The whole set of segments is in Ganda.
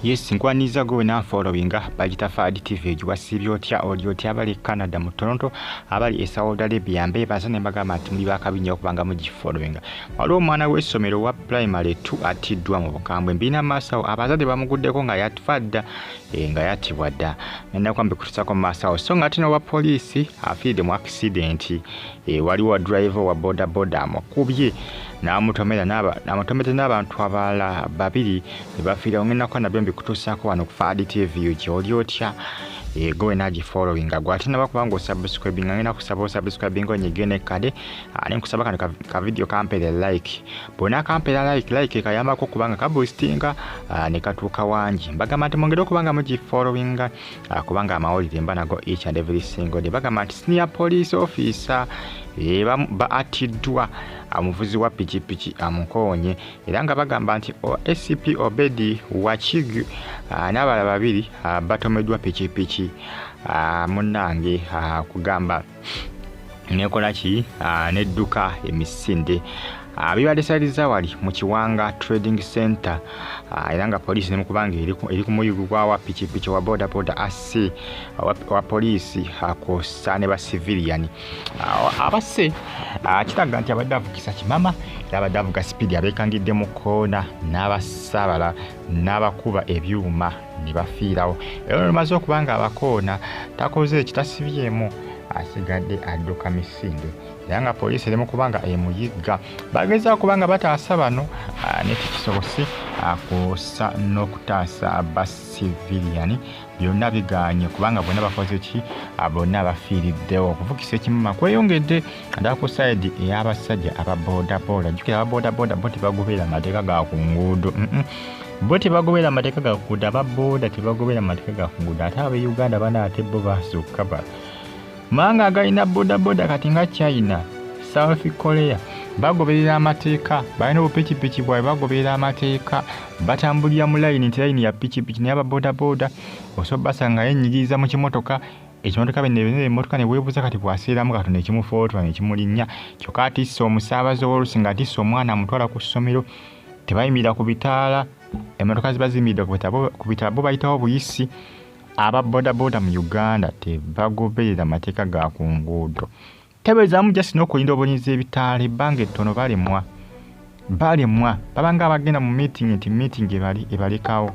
yes nkwaniza gwe wena followinga bagita fad tv egiwasiibye otya oli otya abali e canada mu toronto abali e saudi arabia mbebaza ne mbagamba nti muli bakabi nnyo okubanga mugifollowinga waliwo omwana w'essomero wa primary t atiddwa mu bukambwe mbiina maasawo abazadde bamuguddeko nga yatfa dda eh, nga yatibwa dda nenakuba mbikutusako mu maasawo so nga ate n'owa poliisi afiiridde mu akisidenti E, waliwo wa driver wa boda boda amukubye n'amutomera amutomedde n'abantu abalala babiri ne bafiira ongenako nabyo mbikutuusaako wano ku faadi tv gyoli otya e, gowe nagi following agwo ate naba kubanga osubscribe nga ngenda kusaba osubscribe nga onyige ne kade ah, ne nkusaba kano ka video kampere like bona kampera like like kayambako kubanga kabusitinga ah, ne katuuka wangi mbagamba nti mwongere okubanga mugi following Ah, kubanga amawulire mba nago each and every single day bagamba nti senior police officer eh, baatiddwa omuvuzi wa pikipiki amukoonye era nga bagamba nti acp obedi wakig ah, n'abalala babiri ah, batomeddwa pikipiki munange kugamba nekola ki ah, nedduka emisinde Ah, bibadde sali zawali mu kiwanga trading center ah, era nga poliisi nemukubanga eri ku muyugu gwawa pikipiki wa bodaboda asse ah, wa poliisi kwossa ne basiviliyani abasse kiraga nti abadde avugisa kimama era abadde avuga sipiidi abeekangidde mu koona n'abasaabala n'abakuba ebyuma ne bafiirawo era olumaze okuba nga abakoona takoze ekitasibyemu asigadde adduka misinde era nga poliisi eri mu kuba nga emuyigga bagezaa kuba nga bataasa bano nekikisobose kusa n'okutaasa basiviliyani byonna bigaanye kubanga bonna bakoze ki ah, bonna bafiiriddewo okuvugisa ekimuma kweyongedde naddala ku sayidi ey'abasajja aba bodaboda jjukira aba bodaboda bo tebagoberera amateeka ga ku nguudo bo tebagoberera amateeka ga kuguudo aba boda tebagoberera amateeka ga kuguudo ate abe uganda bana ate bo basukka ba manga agalina bodaboda kati nga china south korea bagoberera amateeka balina obupikipiki bwabe bagoberera amateeka batambulira mu layini nti layini ya pikipiki naye ababodaboda osobola basanga yenyigiriza mu kimotoka ekimotoka bnemotoka newebuuza kati bwaseeramu katonda ekimufootola nekimulinnya kyokka atissa omusaabazi owolusi nga atissa omwana amutwala ku ssomero tebayimirira ku bitaala emotoka ziba ziyimiridde ku bitaala bo bayitawo buyisi aba bodaboda mu uganda tebagoberera mateeka ga ku nguudo tebeezaamu just n'okulinda obulinzi ebitaala ebbanga ettono balemwa balemwa babanga abagenda mu meeting nti meeting ebali ebalekawo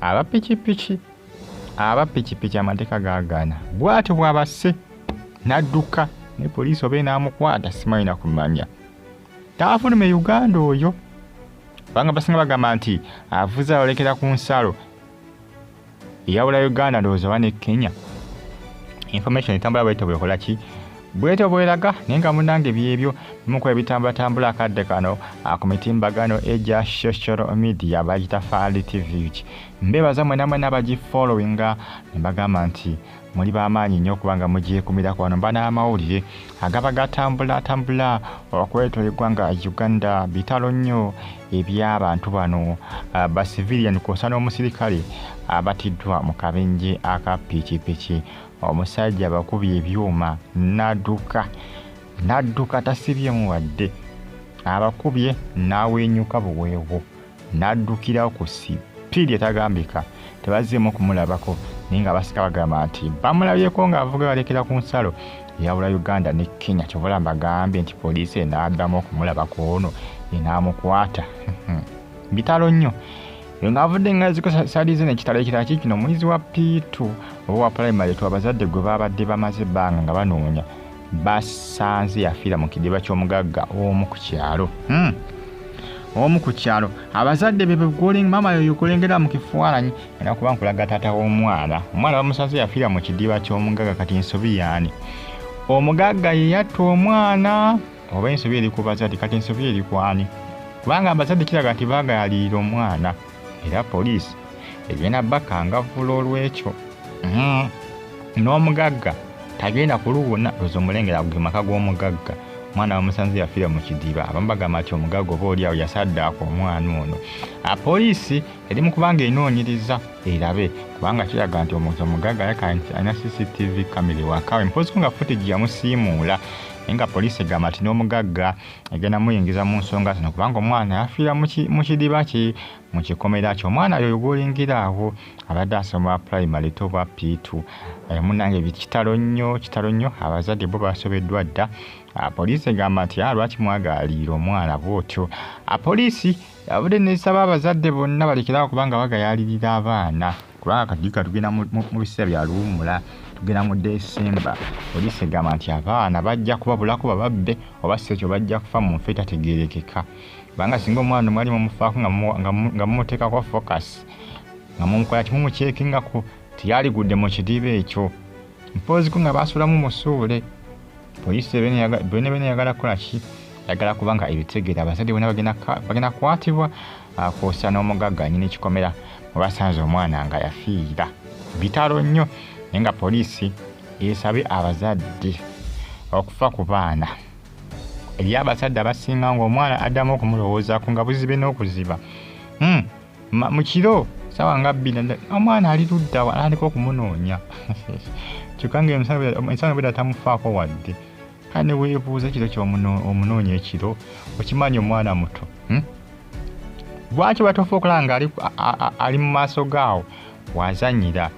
aba pikipiki aba pikipiki amateeka gagaana bwatyo bwabase n'adduka ne poliisi oba enaamukwata simanyi nakumanya taafulume uganda oyo kubanga basinga bagamba nti avuze alolekera ku nsalo eyawula uganda ndowooza oba ne kenya information etambula bwete bwekola ki bwete bweraga naye nga munange byebyo bimukola ebitambulatambula akadde kano ku mitimbagano egya social media bagita faali tv ki mbebaza mwenamwena abagifollowinga nembagamba nti Muli ba maanyi nnyo kubanga mugyekumirako wano mba n'amawulire agaba gatambula atambula okwetoola eggwanga Uganda bitalo nnyo eby'abantu bano ah, ba civilian kwosa n'omusirikale abatiddwa mu kabenje aka pikipiki omusajja bakubye ebyuma n'adduka n'adduka tasibyemu wadde abakubye n'aweenyuka buweewo n'addukira ku sipiidi etagambika tebazzeemu kumulabako naye nga basika bagamba nti bamulabyeko ng'avuga balekera ku nsalo eyawula uganda ne kenya kyobola mbagambye nti poliisi enaaddamu okumulabako ono enaamukwata bitalo nnyo ng'avudde ngaziko salize nekitalo ekirala kikino omuyizi wa piitu oba wa pulayimale twa bazadde gwe baabadde bamaze ebbanga nga banoonya basanze yafiira mu kidiba ky'omugagga omu ku kyalo hmm. omu ku kyalo abazadde be maama yoyo kulengera mu kifaananyi era kuba nkulaga taata w'omwana omwana bamusanze yafiira mu kidiba ky'omugagga kati nsobi yaani omugagga ye yatta omwana oba ensobi eri ku bazadde kati ensobi eri kwani kubanga abazadde kiraga nti baagayalirira omwana era poliisi egenda bakangavvula olw'ekyo hmm. n'omugagga tagenda kuluwona lwoza omulengera ago ge maka g'omugagga omwana wamusanze yafiira mu kidiba abamu bagamba nti omugagga oba oli awo yasaddaako omwana ono ah, poliisi eri mu kubanga enoonyereza erabe kubanga kiraga nti omuntu omugagga alina cctv kamera ewakawe mpoziko nga footage yamusiimuula naye nga poliisi egamba nti n'omugagga egenda muyingiza mu nsonga zino kubanga omwana yafiira mu kidiba ki mu kikomera kyo omwana yoyo gwolingira awo abadde asoma primary to bwa piitu eh, munange kitalo nnyo kitalo nnyo abazadde bo basobeddwa dda ah, poliisi egamba nti ah, lwaki mwagaaliira omwana bwotyo ah, poliisi abudde nesaba abazadde bonna balekerawo kubanga bagayalirira abaana kubanga kadika tugenda mu biseera bya luwummula tugenda mu desemba poliisi egamba nti abaana bajja kubabulako bababbe oba si ekyo bajja kufa mu nfa etategeerekeka kubanga singa omwana omwali mumufaako nga mumuteekako focus nga mumukola kimu mukyekingako teyaligudde mu kidiba ekyo mpooziko nga baasulamu musuule poliisi benebene yagala kukola ki yagala kubanga ebitegeera abazadde bona bagenda kukwatibwa akuusa n'omugagga anyini kikomera mwebasanze omwana nga yafiira bitalo nnyo naye nga poliisi esabye abazadde okufa ku baana eri abazadde abasinga ngaomwana addamu okumulowoozako nga buzibe n'okuziba hmm, mu kiro sawa nga bbina omwana ali ludda atandika okumunoonya kyokka ngaensano bweda tamufaako wadde kale ne weebuuza ekiro kyomunoonya ekiro okimanyi omwana muto hmm? lwaki batofa okulaba nga ali mu maaso gaawo wazanyira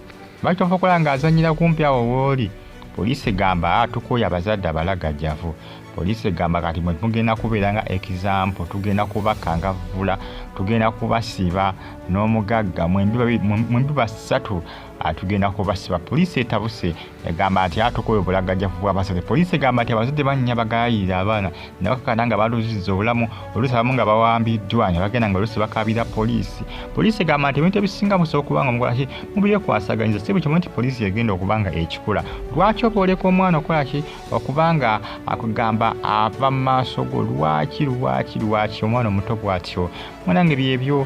lwaki tofa okulaba nga azanyira kumpi awo wooli poliisi egamba ah, tukooya abazadde abalagajjavu poliisi egamba kati mwe tugenda kubeera nga ekizampo tugenda kubakangavvula tugenda kubasiba n'omugagga mwembi basatu ah, tugenda kubasiba poliisi etabuse egamba nti atukola obulagajjavu bw'abazadde poliisi egamba nti abazadde bannya bagayirira abaana ne bakakana nga baluziza obulamu oluusi abamu nga bawambiddwa ne bagenda nga oluusi bakaabira poliisi poliisi egamba nti ebintu ebisinga musobola okuba nga omukola ki mubyekwasaganyiza si buli kimu nti poliisi egenda okuba nga ekikula lwaki oba oleka omwana okukola ki okuba nga akugamba ava mu maaso go lwaki lwaki lwaki omwana omuto bw'atyo munange byebyo